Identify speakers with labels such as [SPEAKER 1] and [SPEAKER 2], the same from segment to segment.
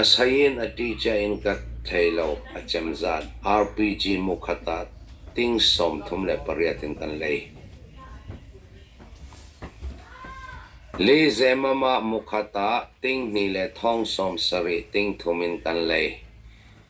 [SPEAKER 1] A sein a ṭicia in ka thei lo, a cemzat. RPG mukhat ah ting sawmthum le pariat in kan lei. Le zemmam ah mukhat ah tinghnih le thong sawm sarih, ting thum in kan lei.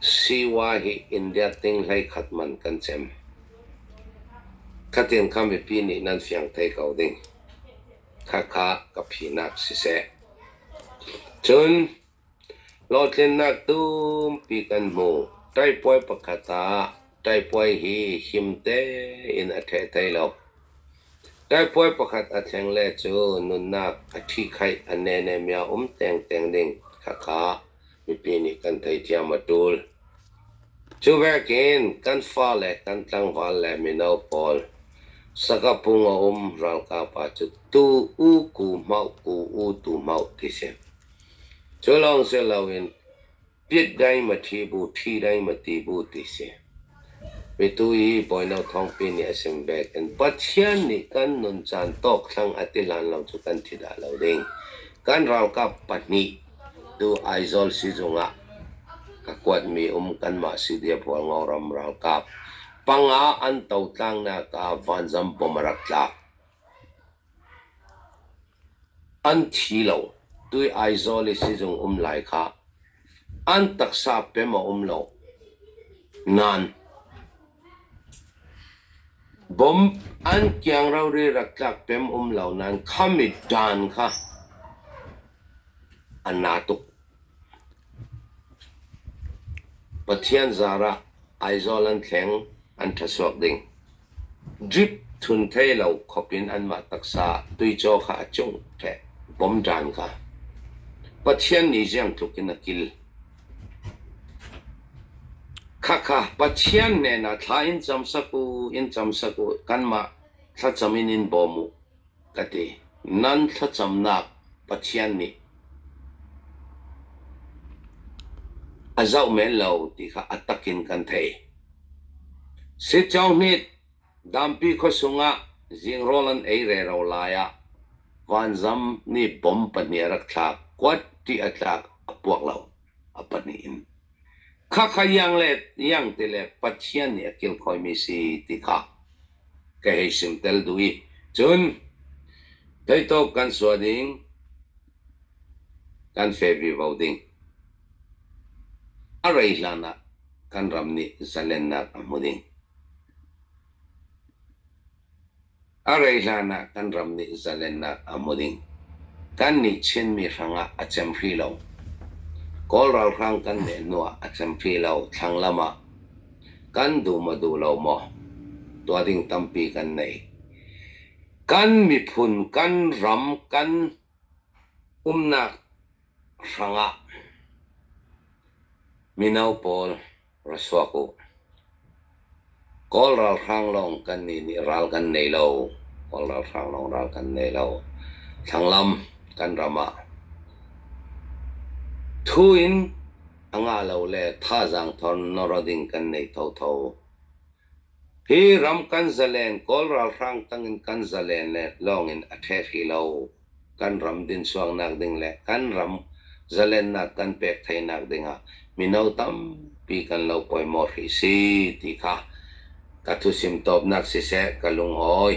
[SPEAKER 1] Sii-wai hi India ting hleikhat man kan cem. Khatin kha mipi nih nan fiang thai ko ding. Khakha ka phinak siseh. Cun hlawhtlinnak tumpi kan hmu. Taipuai pakhat ah taipuai hi him tein a ṭheh thai lo. Taipuai pakhat a thleng le cu nunnak a ṭhi khaih a nene mia um tengteng ding khakha. mipi nih kan tei ciam a ṭul. Cu vekin kan fale, kan tlangval le mino pawl Singapore a um ralkap ah cu tu u ku hmauh ku u tu hmauh ti si. Cu lawng si loin pit dai ma ṭhi bu, ṭhi dai ma ti bu ti si. Petu i bawino thawngpi nih a chim bik in Pathian nih kan nuncaan tawkthlang a ti lan lo cu kan thi dah lo ding. Kan ralkap pahnih tu Aizawl sizung ah ka kuatmi um kanmah CDF-Hual Ngoram ralkap panga an totlannak ah Vanzam bom a rak tlak. An thi lo, tui Aizawl i sizung um lai kha an taksa pem a um lo. Nain, bomb an kiang rori rak tlak pem um lo nain khami dan kha a na tuk. Pathian zar ah Aizawl an thleng an ṭhasuak ding. Drip thun thei lo khawp in anmah taksa tuicaw kha a cungh ṭheh bawmṭan kha. Pathian nih ziang tluk in a kil. Khakha Pathian hnenah thla in cam sak u, in cam sak u, kanmah thlacam in in bawm u. ka ti. Nan thlacamnak Pathian nih a zoh men lo ti kha a tak in kan theih. Sitcawhnit dampi khuasung ah zingrawl an ei rero lai ah vanzam nih bom pahnih a rak thlak. Kuat ṭih a tlak, a puak lo, a pahnih in. Khakha ianglet iang ti le Pathian nih a kilkhawimi si ti kha ka hei sim tel duh i cun theitawk kan suah ding, kan fe vivo ding. A rei hlan ah kan ram nih zalennak a hmu ding. A rei hlanah kan ram nih zalennak a hmu ding. Kan nih Chinmi hrangah a cem hri lo. Kawl ralhrang kan nehnuah a cem hri lo thlang lam ah. Kan duh maw duh lo maw tuah ding tampi kan nei. Kan miphun, kan ram, kan umnak hrangah mino pawl ra suak u. Kawl ralhrang lawng kannih nih ral kan nei lo. Kawl ralhrang lawng ral kan nei lo. Thlanglam kan ram ah thu in a ngah lo le thazaang thawr nawr ding kan nei thotho. Hi ram kan zalen Kawl ralhrang tangin kan zalen le lawngin a ṭhehli lo. Kan ram dinsuangnak ding le kan ram zalennak kan pek theinak dingah mino tampi kan lo poimawh hrih si ti kha ka thuchim tawpnak siseh ka lungawi.